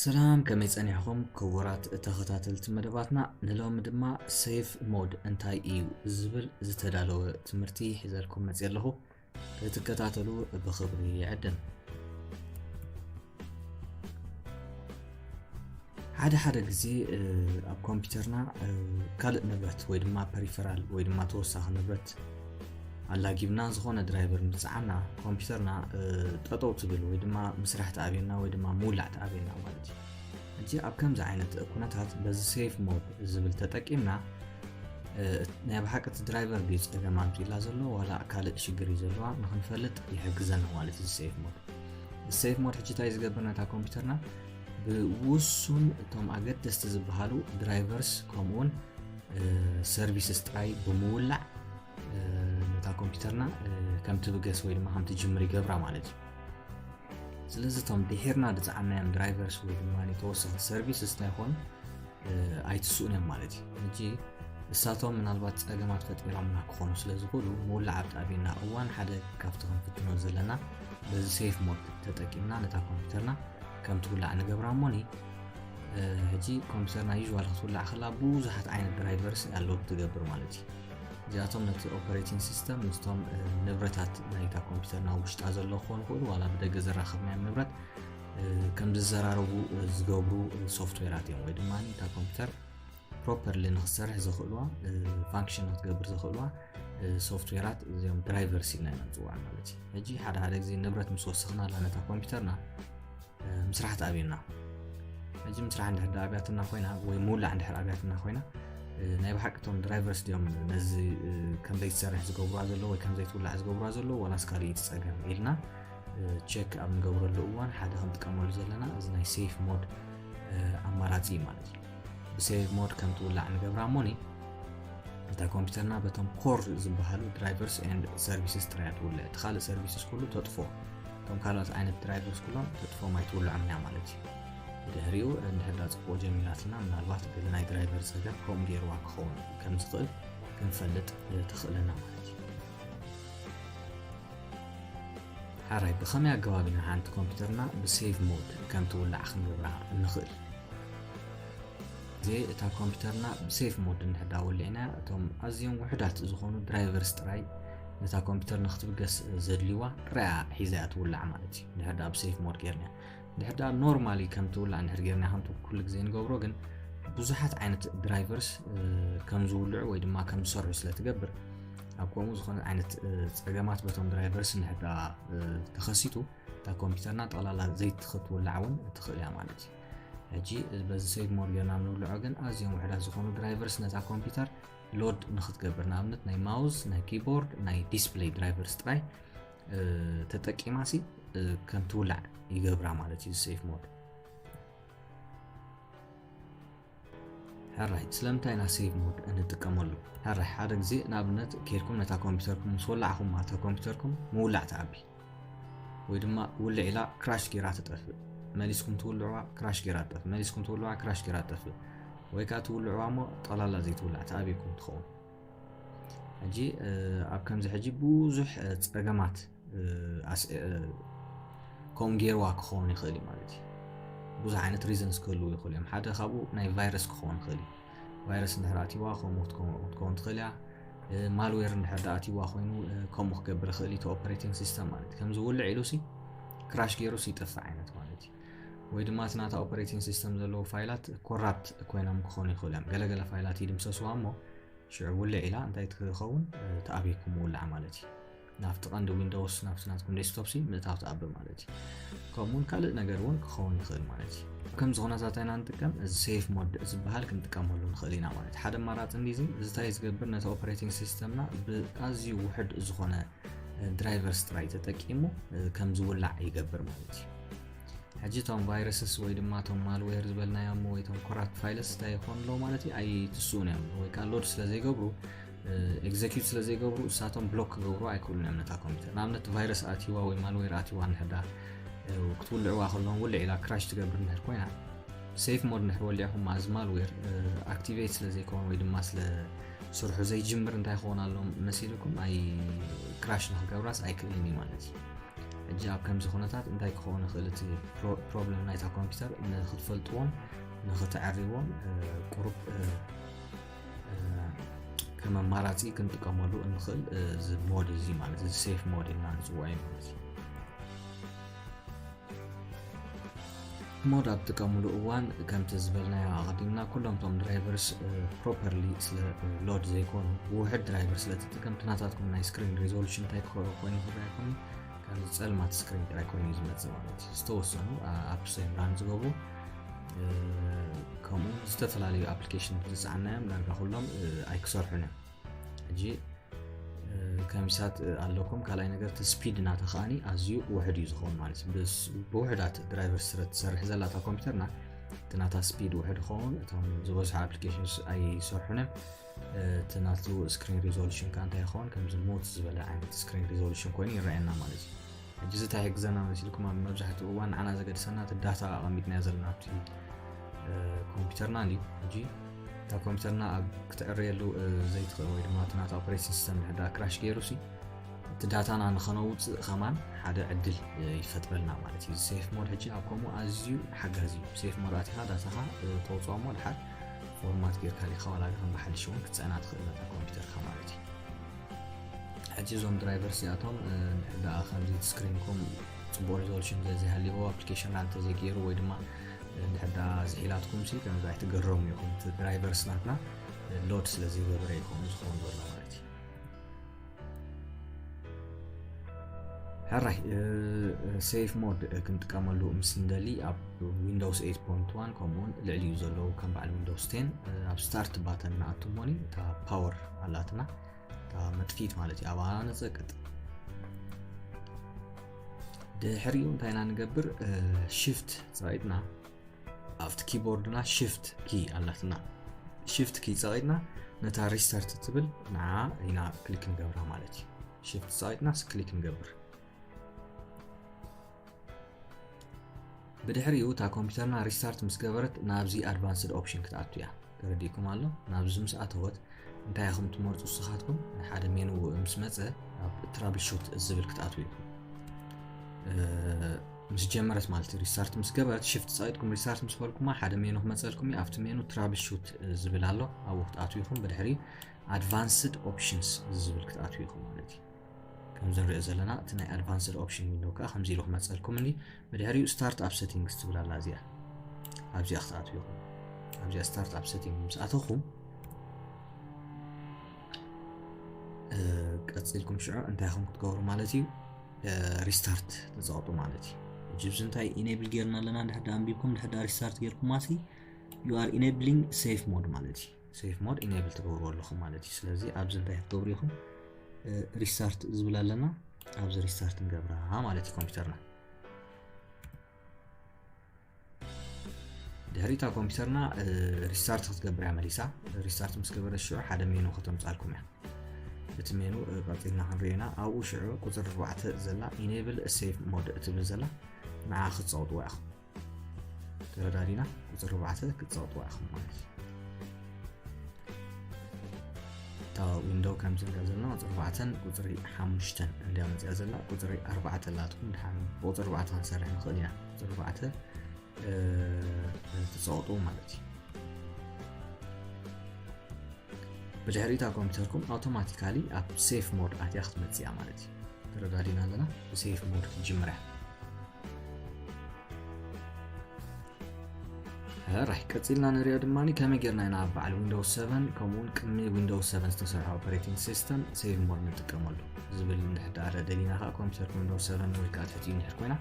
ሰላም ከመይ ጸኒሕኹም ክቡራት ተኸታተልቲ መደባትና ንሎሚ ድማ ሴፍ ሞድ እንታይ እዩ ዝብል ዝተዳለወ ትምህርቲ ሒዘልኩም መፅ ኣለኹ ክትከታተሉ ብክብሪ ይዕድም። ሓደ ሓደ ግዜ ኣብ ኮምፒውተርና ካልእ ንብረት ወይ ድማ ፐሪፈራል ወይ ድማ ተወሳኺ ንብረት ኣላጊብና ዝኾነ ድራይቨር ምፅዓና ኮምፒውተርና ጠጠው ትብል ወይ ድማ ምስራሕ ትኣብየና ወይ ድማ ምውላዕ ትኣብየና ማለት እዩ ሕጂ ኣብ ከምዚ ዓይነት ኩነታት በዚ ሴፍ ሞድ ዝብል ተጠቂምና ናይ ብሓቂ እቲ ድራይቨር ድዩ ፀገም ኣምፂላ ዘሎ ዋላ ካልእ ሽግር እዩ ዘለዋ ንክንፈልጥ ይሕግዘና ማለት እዚ ሴፍ ሞድ ሴፍ ሞድ ሕጂ እንታይ ዝገብር ነታ ኮምፒውተርና ብውሱን እቶም ኣገደስቲ ዝበሃሉ ድራይቨርስ ከምኡውን ሰርቪስስ ጥራይ ብምውላዕ ነታ ኮምፒውተርና ከም ትብገስ ወይ ድማ ከም ትጅምር ይገብራ ማለት እዩ ስለዚ እቶም ድሒርና ዝፀዓናዮም ድራይቨርስ ወይ ድማ ተወሰኺ ሰርቪስስ እንታይኮኑ ኣይትስኡን እዮም ማለት እዩ ሕጂ ንሳቶም ምናልባት ፀገማት ፈጢሮምና ክኾኑ ስለ ዝኽእሉ ምውላዕ ኣብጣቢና እዋን ሓደ ካብቲ ክንፍትኖ ዘለና በዚ ሴፍ ሞድ ተጠቂምና ነታ ኮምፒውተርና ከም ትውላዕ ንገብራ እሞኒ ሕጂ ኮምፒውተርና ዩዥዋል ክትውላዕ ከላ ብዙሓት ዓይነት ድራይቨርስ ኣለዉ ትገብር ማለት እዩ እዚኣቶም ነቲ ኦፐሬቲንግ ሲስተም ምስቶም ንብረታት ናይታ ኮምፒውተር ናብ ውሽጣ ዘሎ ክኾኑ ይኽእሉ ዋላ ብደገ ዘራኸብናዮም ንብረት ከም ዝዘራረቡ ዝገብሩ ሶፍትዌራት እዮም ወይ ድማ እታ ኮምፒውተር ፕሮፐርሊ ንክሰርሕ ዘኽእልዋ ፋንክሽን ንክትገብር ዘኽእልዋ ሶፍትዌራት እዚኦም ድራይቨርስ ኢልና ኢና ንፅዋዕ ማለት እዩ ሕጂ ሓደ ሓደ ግዜ ንብረት ምስ ወሰኽና ኣለነታ ኮምፒውተርና ምስራሕ ተኣብየና ሕጂ ምስራሕ እንድሕር ዳ ኣብያትና ኮይና ወይ ምውላዕ እንድሕር ኣብያትና ኮይና ናይ ብሓቂ እቶም ድራይቨርስ ድዮም ነዚ ከም ዘይትሰርሕ ዝገብሩዋ ዘለዎ ወይ ከም ዘይትውላዕ ዝገብሩዋ ዘለዎ ዋላስ ካልእ ትፀገም ኢልና ቸክ ኣብ ንገብረሉ እዋን ሓደ ክንጥቀመሉ ዘለና እዚ ናይ ሴፍ ሞድ ኣማራፂ እዩ ማለት እዩ ብሴቭ ሞድ ከም ትውላዕ ንገብራ እሞ እታ ኮምፒውተርና በቶም ኮር ዝበሃሉ ድራይቨርስ ኤንድ ሰርቪስስ ጥራያ ትውልዕ እቲ ካልእ ሰርቪስስ ኩሉ ተጥፎ እቶም ካልኦት ዓይነት ድራይቨርስ ኩሎም ተጥፎም ኣይትውልዖም ኢና ማለት እዩ ብድሕሪኡ እንድሕዳ ፅቡቅ ጀሚራትና ምናልባት ገለ ናይ ድራይቨር ፀገም ከምኡ ገይርዋ ክኸውን ከም ዝኽእል ክንፈልጥ ተኽእለና ማለት እዩ ሓራይ ብኸመይ ኣገባብ ኢና ሓንቲ ኮምፒውተርና ብሴቭ ሞድ ከም ትውላዕ ክንገብራ ንኽእል እዚ እታ ኮምፒውተርና ብሴፍ ሞድ እንድሕር ዳ ወሊዕና እቶም ኣዝዮም ውሑዳት ዝኾኑ ድራይቨርስ ጥራይ ነታ ኮምፒውተር ንክትብገስ ዘድልይዋ ርያ ሒዛ እያ ትውላዕ ማለት እዩ እንድሕር ዳ ብሴፍ ሞድ ጌርና እንድሕር ዳ ኖርማሊ ከም ትውላዕ እንድሕር ጌርና ከምቲ ኩሉ ግዜ ንገብሮ ግን ብዙሓት ዓይነት ድራይቨርስ ከም ዝውልዑ ወይ ድማ ከም ዝሰርሑ ስለ ትገብር ኣብ ከምኡ ዝኾነ ዓይነት ፀገማት በቶም ድራይቨርስ እንድሕዳ ተኸሲቱ እታ ኮምፒተርና ጠቕላላ ዘይቲ ክትውላዕ እውን እትኽእል እያ ማለት እዩ ሕጂ በዚ ሰይድ ሞር ጌርና ንውልዖ ግን ኣዝዮም ውሕዳት ዝኾኑ ድራይቨርስ ነታ ኮምፒውተር ሎድ ንክትገብር ንኣብነት ናይ ማውዝ ናይ ኪቦርድ ናይ ዲስፕለይ ድራይቨርስ ጥራይ ተጠቂማ ሲ ከም ትውላዕ ይገብራ ማለት እዩ ሴፍ ሞድ ሕራይ ስለምንታይ ኢና ሴቭ ሞድ እንጥቀመሉ? ሕራይ ሓደ ግዜ ንኣብነት ኬድኩም ነታ ኮምፒውተርኩም ምስ ወላዕኹማ እታ ኮምፒውተርኩም ምውላዕ ትኣቢ ወይ ድማ ውልዕ ኢላ ክራሽ ጌራ ትጠፍእ መሊስኩም ትውልዕዋ ክራሽ ጌራ ትጠፍእ መሊስኩም ትውልዕዋ ክራሽ ጌራ ትጠፍእ ወይ ከዓ ትውልዕዋ እሞ ጠላላ ዘይትውላዕ ትኣብኩም ትኸውን ሕጂ ኣብ ከምዚ ሕጂ ብዙሕ ፀገማት ከምኡ ገይርዋ ክኸውን ይኽእል እዩ ማለት እዩ ብዙሕ ዓይነት ሪዘንስ ክህልው ይኽእሉ እዮም ሓደ ካብኡ ናይ ቫይረስ ክኸውን ይኽእል እዩ ቫይረስ እንድሕር ኣትይዋ ከምኡ ክትከውን ትኽእል እያ ማልዌር እንድሕር ዳ ኣትይዋ ኮይኑ ከምኡ ክገብር ይኽእል እዩ ኦፐሬቲንግ ሲስተም ማለት እዩ ከምዚ ውልዕ ኢሉ ሲ ክራሽ ገይሩ ሲ ይጠፍእ ዓይነት ማለት እዩ ወይ ድማ እቲ ናታ ኦፐሬቲንግ ሲስተም ዘለዎ ፋይላት ኮራፕት ኮይኖም ክኾኑ ይኽእሉ እዮም ገለገለ ፋይላት ይድምሰስዋ እሞ ሽዑ ውልዕ ኢላ እንታይ ትኸውን ተኣብየኩም ውላዕ ማለት እዩ ናብቲ ቀንዲ ዊንዶውስ ናብቲ ናትኩም ዴስክቶፕ ሲ ምእታው ትኣብ ማለት እዩ ከምኡውን ካልእ ነገር እውን ክኸውን ይኽእል ማለት እዩ ከምዚ ኩነታት ኢና ንጥቀም እዚ ሴፍ ሞድ ዝበሃል ክንጥቀመሉ ንኽእል ኢና ማለት ሓደ ኣማራፂ እንዲዚ እዚታይ ዝገብር ነቲ ኦፕሬቲንግ ሲስተምና ብኣዝዩ ውሕድ ዝኾነ ድራይቨር ስትራይ ተጠቂሙ ከም ዝውላዕ ይገብር ማለት እዩ ሕጂ እቶም ቫይረስስ ወይ ድማ እቶም ማልዌር ዝበልናዮም ወይ እቶም ኮራፕት ፋይልስ እንታይ ይኾኑ ኣለዉ ማለት እዩ ኣይትስኡን እዮም ወይ ከዓ ሎድ ስለ ዘይገብሩ ኤግዘኪዩት ስለ ዘይገብሩ እሳቶም ብሎክ ክገብሩ ኣይክእሉን እዮም ነታ ኮምፒተር ንኣብነት ቫይረስ ኣትዋ ወይ ማልዌር ኣትዋ ንሕዳ ክትውልዕዋ ከለዎም ውልዕ ኢላ ክራሽ ትገብር ንሕር ኮይና ሴፍ ሞድ ንሕር ወሊዕኹም ማእዝ ማልዌር ኣክቲቬት ስለ ዘይከውን ወይ ድማ ስለ ስርሑ ዘይጅምር እንታይ ክኾን ኣሎም መሲልኩም ኣይ ክራሽ ንክገብራስ ኣይክእልን እዩ ማለት እዩ ሕጂ ኣብ ከምዚ ኩነታት እንታይ ክኸውን ይኽእል እቲ ፕሮብለም ናይታ ኮምፒተር ንክትፈልጥዎም ንክተዕርዎም ቁሩብ ከም ኣማራፂ ክንጥቀመሉ እንኽእል እዚ ሞድ እዚ ማለት እዚ ሴፍ ሞድ ኢልና ንፅውዖ እዩ ማለት እዩ ሞድ ኣብ ጥቀምሉ እዋን ከምቲ ዝበልናዮ ኣቐዲምና ኩሎም ቶም ድራይቨርስ ፕሮፐርሊ ስለ ሎድ ዘይኮኑ ውሕድ ድራይቨር ስለትጥቀም ትናታትኩም ናይ ስክሪን ሪዞሉሽን እንታይ ኮይኑ ዝረኣ ይኮኑ ካብዚ ፀልማት ስክሪን ጥራይ ኮይኑ ዝመፅእ ማለት እዩ ዝተወሰኑ ኣብ ሴምራን ዝገቡ ከምኡ ዝተፈላለዩ ኣፕሊኬሽን ዝፀዓናዮም ዳርጋ ኩሎም ኣይክሰርሑን እዮም ሕጂ ከሚሳት ኣለኩም ካልኣይ ነገር እቲ ስፒድ ናተ ከዓኒ ኣዝዩ ውሕድ እዩ ዝኸውን ማለት እዩ ብውሕዳት ድራይቨር ስረ ትሰርሕ ዘላ እታ ኮምፒተርና እቲ ናታ ስፒድ ውሕድ ይኸውን እቶም ዝበዝሑ ኣፕሊኬሽን ኣይሰርሑን እዮም እቲ ናቱ ስክሪን ሪዞሉሽን ከዓ እንታይ ይኸውን ከምዚ ሞት ዝበለ ዓይነት ስክሪን ሪዞሉሽን ኮይኑ ይረኣየና ማለት እዩ ሕጂ እዚ ታይ ይሕግዘና መሲልኩም ኣብ መብዛሕትኡ እዋን ንዓና ዘገድሰና እቲ ዳታ ኣቐሚጥናዮ ዘለና ኣብቲ ኮምፒውተርና እዩ ሕጂ እታ ኮምፒውተርና ኣብ ክትዕርየሉ ዘይትኽእል ወይ ድማ እቲ ናታ ኦፕሬቲንግ ሲስተም ድሕዳ ክራሽ ገይሩ ሲ እቲ ዳታና ንኸነውፅእ ኸማን ሓደ ዕድል ይፈጥረልና ማለት እዩ ሴፍ ሞድ ሕጂ ኣብ ከምኡ ኣዝዩ ሓጋዚ እዩ ሴፍ ሞድ ኣቲኻ ዳታኻ ተውፅኦ እሞ ድሓር ፎርማት ጌርካ ሊኻ ዋላ ከም ብሓድሽ እውን ክትፅዕና ትኽእል ነታ ኮምፒውተርካ ማለት እዩ ሕጂ እዞም ድራይቨርስ እዚኣቶም እንድሕር ደኣ ከምዚ ስክሪንኩም ፅቡቅ ሪዞሉሽን ዘይሃልዎ ኣፕሊኬሽን ናንተ ዘይገይሩ ወይ ድማ እንድሕር ደኣ ዝሒላትኩም ሲ ከምዚ ኣይትገረሙ ኢኹም እቲ ድራይቨርስ ናትና ሎድ ስለ ዘይገበረ እዩ ከምኡ ዝኸውን ዘሎ ማለት እዩ ሕራይ ሴፍ ሞድ ክንጥቀመሉ ምስ ንደሊ ኣብ ዊንዶውስ 8.1 ከምኡውን ልዕሊኡ ዘለዉ ከም በዓል ዊንዶውስ 10 ኣብ ስታርት ባተን ንኣቱ ሞኒ እታ ፓወር ኣላትና መጥፊት ማለት እዩ ኣባና ነፀቅጥ ድሕሪኡ እንታይ ኢና ንገብር ሽፍት ፀቂጥና ኣብቲ ኪቦርድና ሽፍት ኪ ኣላትና ሽፍት ኪ ፀቂጥና ነታ ሪስታርት ትብል ንዓ ኢና ክሊክ ንገብራ ማለት እዩ ሽፍት ፀቂጥና ክሊክ ንገብር ብድሕሪኡ እታ ኮምፒተርና ሪስታርት ምስ ገበረት ናብዚ ኣድቫንስድ ኦፕሽን ክትኣቱ እያ ተረዲእኩም ኣሎ ናብዚ ምስ ኣተወት እንታይ ኢኹም ትመርፁ ንስኻትኩም ሓደ ሜኑ ምስ መፀ ኣብ ትራብል ሹት ዝብል ክትኣትው ኢኹም ምስ ጀመረት ማለት እዩ ሪስታርት ምስ ገበረት ሽፍት ፀቂጥኩም ሪስታርት ምስ በልኩማ ሓደ ሜኑ ክመፀልኩም እዩ ኣብቲ ሜኑ ትራብል ሹት ዝብል ኣሎ ኣብኡ ክትኣትው ኢኹም ብድሕሪ ኣድቫንስድ ኦፕሽንስ ዝብል ክትኣትው ኢኹም ማለት እዩ ከምዚ ንሪኦ ዘለና እቲ ናይ ኣድቫንስድ ኦፕሽን ዊንዶው ከዓ ከምዚ ኢሉ ክመፀልኩም እኒ ብድሕሪኡ ስታርት ኣብ ሴቲንግስ ትብል ኣላ እዚኣ ኣብዚኣ ክትኣትዉ ኢኹም ኣብዚኣ ስታርት ኣብ ሴቲንግ ምስ ኣተኹም ቀፂልኩም ሽዑ እንታይ ኹም ክትገብሩ ማለት እዩ ሪስታርት ትፀቕጡ ማለት እዩ ሕጂ ብዚ እንታይ ኢኔብል ጌርና ኣለና ድሕዳ ኣንቢብኩም ድሕዳ ሪስታርት ጌርኩማ ሲ ዩ ኣር ኢኔብሊንግ ሴፍ ሞድ ማለት እዩ ሴፍ ሞድ ኢነብል ትገብርዎ ኣለኹም ማለት እዩ ስለዚ ኣብዚ እንታይ ክትገብሩ ኢኹም ሪስታርት ዝብል ኣለና ኣብዚ ሪስታርት ንገብራ ማለት እዩ ኮምፒውተርና ድሕሪ እታ ኮምፒውተርና ሪስታርት ክትገብር እያ መሊሳ ሪስታርት ምስ ገበረ ሽዑ ሓደ ሜኑ ከተምፃልኩም እያ እቲ ሜኑ ቀፂልና ክንሪኦ ኢና ኣብኡ ሽዑ ቁፅሪ 4 ዘላ ኢነብል ሴፍ ሞድ እትብል ዘላ ንዓ ክትፀውጥዋ ኢኹም ተረዳዲና ቁፅሪ ኣርባዕተ ክትፀቕጥዋ ኢኹም ማለት እዩ እታ ዊንዶው ከምዚ ንሪኦ ዘለና ቁፅሪ ኣርባዕተን ቁፅሪ ሓሙሽተን እንድያ መፅያ ዘላ ቁፅሪ ኣርባዕተ ኣላትኩም ድሓን ብቁፅሪ ኣርባዕተ ክንሰርሕ ንኽእል ኢና ቁፅሪ ኣርባዕተ ትፀቕጡ ማለት እዩ ብድሕሪ እታ ኮምፒውተርኩም ኣውቶማቲካሊ ኣብ ሴፍ ሞድ ኣትያ ክትመፅያ ማለት እዩ ተረዳዲና ኣለና ብሴፍ ሞድ ክትጅምር እያ ራይ ቀፂልና ንሪኦ ድማ ከመይ ጌርና ኢና ኣብ በዓል ዊንዶውስ 7 ከምኡውን ቅድሚ ዊንዶውስ 7 ዝተሰርሐ ኦፐሬቲንግ ሲስተም ሴቭ ሞድ ንጥቀመሉ ዝብል ንሕዳረ ደሊና ከዓ ኮምፒተር ዊንዶውስ 7 ወይ ከዓ ትሕቲኡ ንሕር ኮይና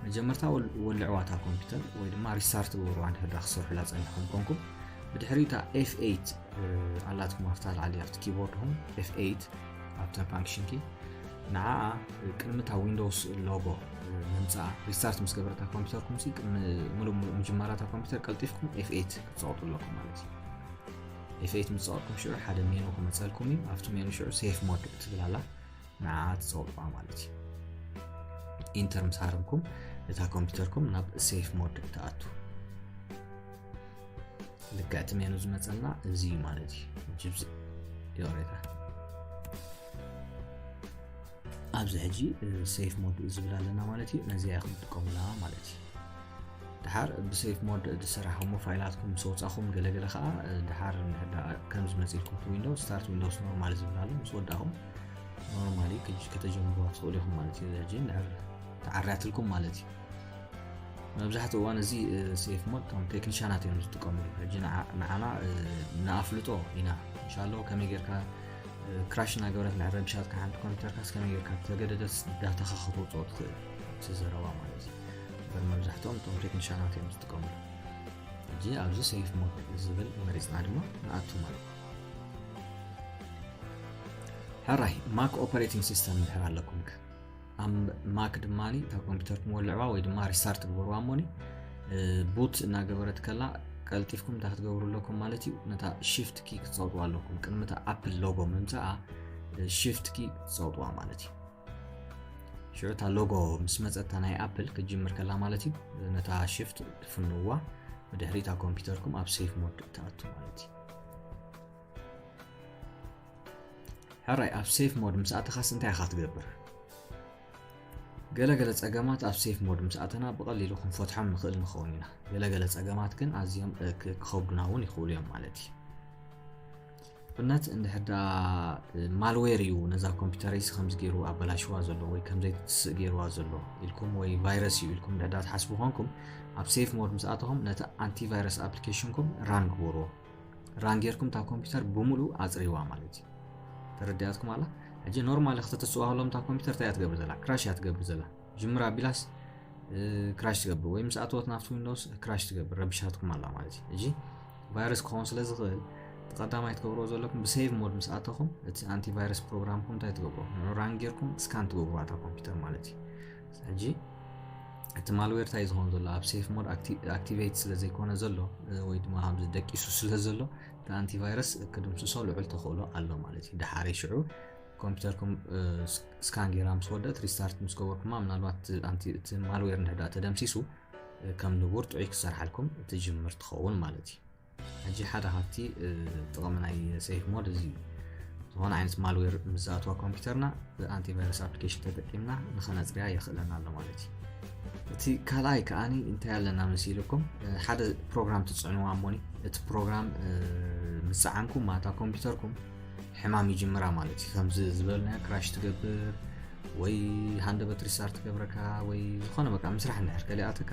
መጀመርታ ወልዕዋታ ኮምፒተር ወይ ድማ ሪስታርት ግበርዋ ንሕዳ ክሰርሑላ ፀኒሖም ኮንኩም ብድሕሪ እታ ኤፍ8 ኣላትኩም ኣብታ ላዕሊ ኣብቲ ኪቦርድኹም ኤፍ8 ኣብታ ፋንክሽን ኪ ንዓኣ ቅድሚ እታ ዊንዶውስ ሎጎ ምምፃኣ ሪስታርት ምስ ገበረታ ኮምፒውተርኩም ሲ ቅድሚ ሙሉእ ሙሉእ ምጅማራ እታ ኮምፒውተር ቀልጢፍኩም ኤፍኤት ክትፀቕጡ ኣለኩም ማለት እዩ ኤፍኤት ምስ ፀቕጥኩም ሽዑ ሓደ ሜኑ ክመፀልኩም እዩ ኣብቲ ሜኑ ሽዑ ሴፍ ሞድ እትብል ኣላ ንዓ ትፀቕጥቋ ማለት እዩ ኢንተር ምስ ሃረምኩም እታ ኮምፒውተርኩም ናብ ሴፍ ሞድ ትኣቱ ልክዕ ትሜኑ ዝመፀና እዚ እዩ ማለት እዩ ጅብዚ ይቕሬታ ኣብዚ ሕጂ ሴፍ ሞድ ዝብል ኣለና ማለት እዩ ነዚኣ ኢኹም ትጥቀሙላ ማለት እዩ ድሓር ብሴፍ ሞድ ዝሰራሕሞ ፋይላትኩም ምስ ወፃኹም ገለገለ ከዓ ድሓር ከም ዝመፅልኩም ዊንዶ ስታርት ዊንዶስ ኖርማል ዝብል ኣሎ ምስ ወዳኹም ኖርማሊ ከተጀምሩዋ ትኽእሉ ኢኹም ማለት እዩ ሕጂ ንዕብ ተዓርያትልኩም ማለት እዩ መብዛሕትኡ እዋን እዚ ሴፍ ሞድ እቶም ቴክኒሻናት እዮም ዝጥቀምሉ ሕጂ ንዓና ንኣፍልጦ ኢና እንሻሎ ከመይ ጌርካ ክራሽ እናገበረት ንዕረብሻትካ ሓንቲ ኮምፒተርካስ ከመይ ጌርካ ተገደደስ ዳታኻ ክትወፅኦ ትኽእል እቲ ዘረባ ማለት እዩ እበር መብዛሕትኦም እቶም ቴክኒሻናት እዮም ዝጥቀምሉ ሕጂ ኣብዚ ሴፍ ሞድ ዝብል መሪፅና ድማ ንኣቱ ማለት እዩ ሕራይ ማክ ኦፐሬቲንግ ሲስተም ድሕር ኣለኩምከ ኣብ ማክ ድማ እታ ኮምፒውተር ክመልዕዋ ወይ ድማ ሪስታርት ትግበርዋ እሞኒ ቡት እናገበረት ከላ ቀልጢፍኩም እንታይ ክትገብሩ ኣለኩም ማለት እዩ ነታ ሽፍት ኪ ክትፀውጥዋ ኣለኩም ቅድሚ እታ ኣፕል ሎጎ ምምፃኣ ሽፍት ኪ ክትፀውጥዋ ማለት እዩ ሽዑ እታ ሎጎ ምስ መፀታ ናይ ኣፕል ክትጅምር ከላ ማለት እዩ ነታ ሽፍት ትፍንዋ ብድሕሪ እታ ኮምፒውተርኩም ኣብ ሴፍ ሞድ ትኣቱ ማለት እዩ ሕራይ ኣብ ሴፍ ሞድ ምስ ኣተኻስ እንታይ ኢኻ ትገብር ገለገለ ጸገማት ኣብ ሴፍ ሞድ ምስ ኣተና ብቐሊሉ ክንፈትሖም ንኽእል ንኸውን ኢና ገለገለ ጸገማት ግን ኣዝዮም ክኸብዱና እውን ይኽእሉ እዮም ማለት እዩ ብነት እንድሕዳ ማልዌር እዩ ነዛ ኮምፒውተረይስ ከምዚ ገይሩ ኣበላሽዋ ዘሎ ወይ ከምዘይትስእ ገይርዋ ዘሎ ኢልኩም ወይ ቫይረስ እዩ ኢልኩም ድሕዳ ትሓስቡ ኮንኩም ኣብ ሴፍ ሞድ ምስ ኣተኹም ነቲ ኣንቲቫይረስ ኣፕሊኬሽንኩም ራን ግበርዎ ራን ጌርኩም እታ ኮምፒውተር ብምሉ ኣፅሪዋ ማለት እዩ ተረዳያትኩም ኣላ ሕጂ ኖርማሊ ክትትፅዋ ከሎም እታ ኮምፒውተር እንታይ እያ ትገብር ዘላ ክራሽ እያ ትገብር ዘላ ጅምራ ኣቢላስ ክራሽ ትገብር ወይ ምስ ኣተወት ናብቲ ዊንዶውስ ክራሽ ትገብር ረብሻትኩም ኣላ ማለት እዩ ሕጂ ቫይረስ ክኸውን ስለ ዝኽእል እቲ ቀዳማይ ትገብርዎ ዘለኩም ብሴቭ ሞድ ምስ ኣተኹም እቲ ኣንቲቫይረስ ፕሮግራምኩም እንታይ ትገብሮ ንዑ ራን ጌርኩም ስካን ትገብርዋ እታ ኮምፒውተር ማለት እዩ ሕጂ እቲ ማልዌር እንታይ ዝኸውን ዘሎ ኣብ ሴፍ ሞድ ኣክቲቬት ስለ ዘይኮነ ዘሎ ወይ ድማ ከምዚ ደቂሱ ስለ ዘሎ እቲ ኣንቲቫይረስ ክድምስሶ ልዑል ተኽእሎ ኣሎ ማለት እዩ ድሓረይ ሽዑ ኮምፒውተርኩም ስካን ጌራ ምስ ወደት ሪስታርት ምስ ገበርኩማ ምናልባት እቲ ማልዌር ንሕዳ ተደምሲሱ ከም ንቡር ጥዑይ ክሰርሓልኩም ትጅምር ትኸውን ማለት እዩ ሕጂ ሓደ ካብቲ ጥቕሚ ናይ ሴፍ ሞድ እዚ እዩ ዝኾነ ዓይነት ማልዌር ምስ ዝኣትዋ ኮምፒውተርና ብኣንቲቫይረስ ኣፕሊኬሽን ተጠቂምና ንኸነፅርያ የኽእለና ኣሎ ማለት እዩ እቲ ካልኣይ ከዓኒ እንታይ ኣለና ምስ ኢልኩም ሓደ ፕሮግራም ትፅዕንዋ እሞኒ እቲ ፕሮግራም ምስ ፀዓንኩም ማታ ኮምፒውተርኩም ሕማም ይጅምራ ማለት እዩ ከምዚ ዝበልናዮ ክራሽ ትገብር ወይ ሃንደበት ሪሳር ትገብረካ ወይ ዝኾነ በቃ ምስራሕ እንድሕር ከሊኣትካ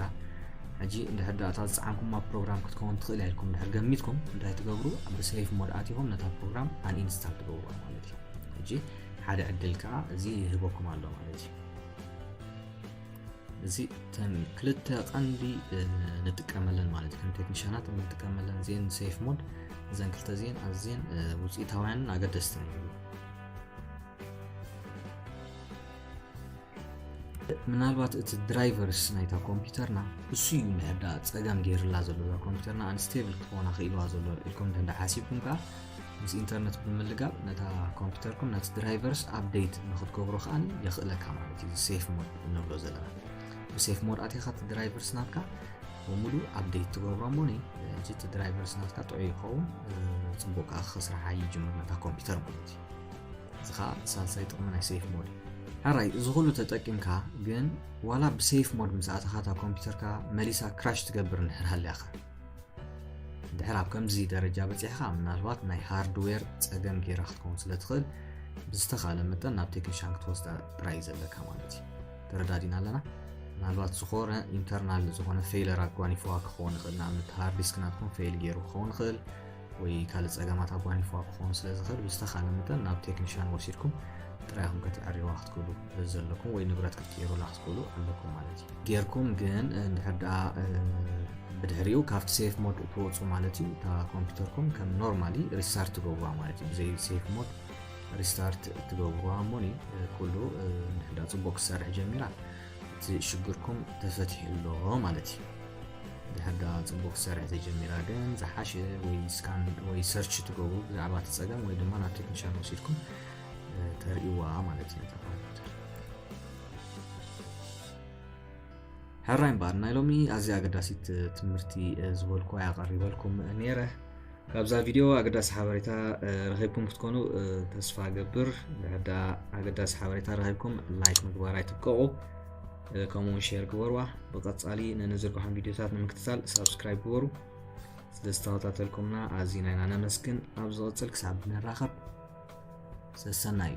ሕጂ እንድሕር ዳእታ ዝፀዓንኩማ ፕሮግራም ክትከውን ትኽእል ኢልኩም እንድሕር ገሚትኩም እንታይ ትገብሩ ኣብ ሰይፍ ሞድ ኣቲኹም ነታ ፕሮግራም ኣንኢንስታል ትገብሩ ማለት እዩ ሕጂ ሓደ ዕድል ከዓ እዚ ይህበኩም ኣሎ ማለት እዩ እዚ እተን ክልተ ቀንዲ ንጥቀመለን ማለት ከም ቴክኒሽናት ንጥቀመለን እዚአን ሴፍ ሞድ እዘን ክልተ እዚአን ኣዝየን ውፅኢታውያንን ኣገደስትን እዩ ምናልባት እቲ ድራይቨርስ ናይታ ኮምፒውተርና እሱ እዩ ንሕዳ ፀገም ገይርላ ዘሎ እዛ ኮምፒውተርና ኣንስቴብል ክትኾና ክኢልዋ ዘሎ ኢልኩም እንተ ሓሲብኩም ከዓ ምስ ኢንተርነት ብምልጋብ ነታ ኮምፒተርኩም ነቲ ድራይቨርስ ኣፕደይት ንክትገብሮ ከዓ የኽእለካ ማለት እዩ ሴፍ ሞድ እንብሎ ዘለና ብሴፍ ሞድ ኣትኻ እቲ ድራይቨርስ ናትካ ብሙሉ ኣፕደይት ትገብሮ እሞ እዚ እቲ ድራይቨርስ ናትካ ጥዑይ ይኸውን ፅቡቅ ከዓ ክስራሓ ይጅምር ነታ ኮምፒተር ማለት እዩ እዚ ከዓ ሳልሳይ ጥቕሚ ናይ ሴፍ ሞድ እዩ ሕራይ እዚ ኩሉ ተጠቂምካ ግን ዋላ ብሴፍ ሞድ ምስ ኣተኻ እታ ኮምፒተርካ መሊሳ ክራሽ ትገብር እንድሕር ሃልያኻ ድሕር ኣብ ከምዚ ደረጃ በፂሕኻ ምናልባት ናይ ሃርድዌር ፀገም ጌራ ክትከውን ስለ ትኽእል ብዝተኻለ መጠን ናብ ቴክኒሻን ክትወስዳ ጥራይ እዩ ዘለካ ማለት እዩ ተረዳዲና ኣለና ምናልባት ዝኾነ ኢንተርናል ዝኾነ ፌይለር ኣጓኒፍዋ ክኸውን ይኽእል ንኣብነት ሃርድ ዲስክ ናትኩም ፌይል ገይሩ ክኸውን ይኽእል ወይ ካልእ ጸገማት ኣጓኒፍዋ ክኸውን ስለ ዝኽእል ብዝተኻለ መጠን ናብ ቴክኒሽያን ወሲድኩም ጥራይኹም ከተዕርዋ ክትክእሉ ዘለኩም ወይ ንብረት ክትቅይሩላ ክትክእሉ ኣለኩም ማለት እዩ ጌርኩም ግን እንድሕር ደኣ ብድሕሪኡ ካብቲ ሴፍ ሞድ እትወፁ ማለት እዩ እታ ኮምፒውተርኩም ከም ኖርማሊ ሪስታርት ትገብሩዋ ማለት እዩ ብዘይ ሴፍ ሞድ ሪስታርት ትገብሩዋ እሞኒ ኩሉ እንድሕር ደኣ ፅቡቅ ክሰርሕ ጀሚራ እቲ ሽግርኩም ተፈትሑ ኣሎ ማለት እዩ ድሕርዳ ፅቡቅ ክሰርሕ ተጀሚራ ግን ዝሓሸ ወይ ስካን ወይ ሰርች ትገብሩ ብዛዕባ እቲ ፀገም ወይ ድማ ናብ ቴክኒሻን ወሲድኩም ተርእይዋ ማለት እዩ ነታ ኮምፒውተር ሕራይ እምበኣር ናይ ሎሚ ኣዝያ ኣገዳሲት ትምህርቲ ዝበልኩ ኣያ ቀሪበልኩም ነይረ ካብዛ ቪድዮ ኣገዳሲ ሓበሬታ ረኺብኩም ክትኮኑ ተስፋ ገብር ድሕር ድኣ ኣገዳሲ ሓበሬታ ረኺብኩም ላይክ ምግባር ኣይትብቀቑ ከምኡውን ሼር ግበርዋ ብቐጻሊ ንንዝርግሖም ቪድዮታት ንምክትታል ሳብስክራይብ ግበሩ ስለዝተኸታተልኩምና ኣዝና ኢና ነመስግን ኣብ ዝቕጽል ክሳብ ንራኸብ ሰሰናዩ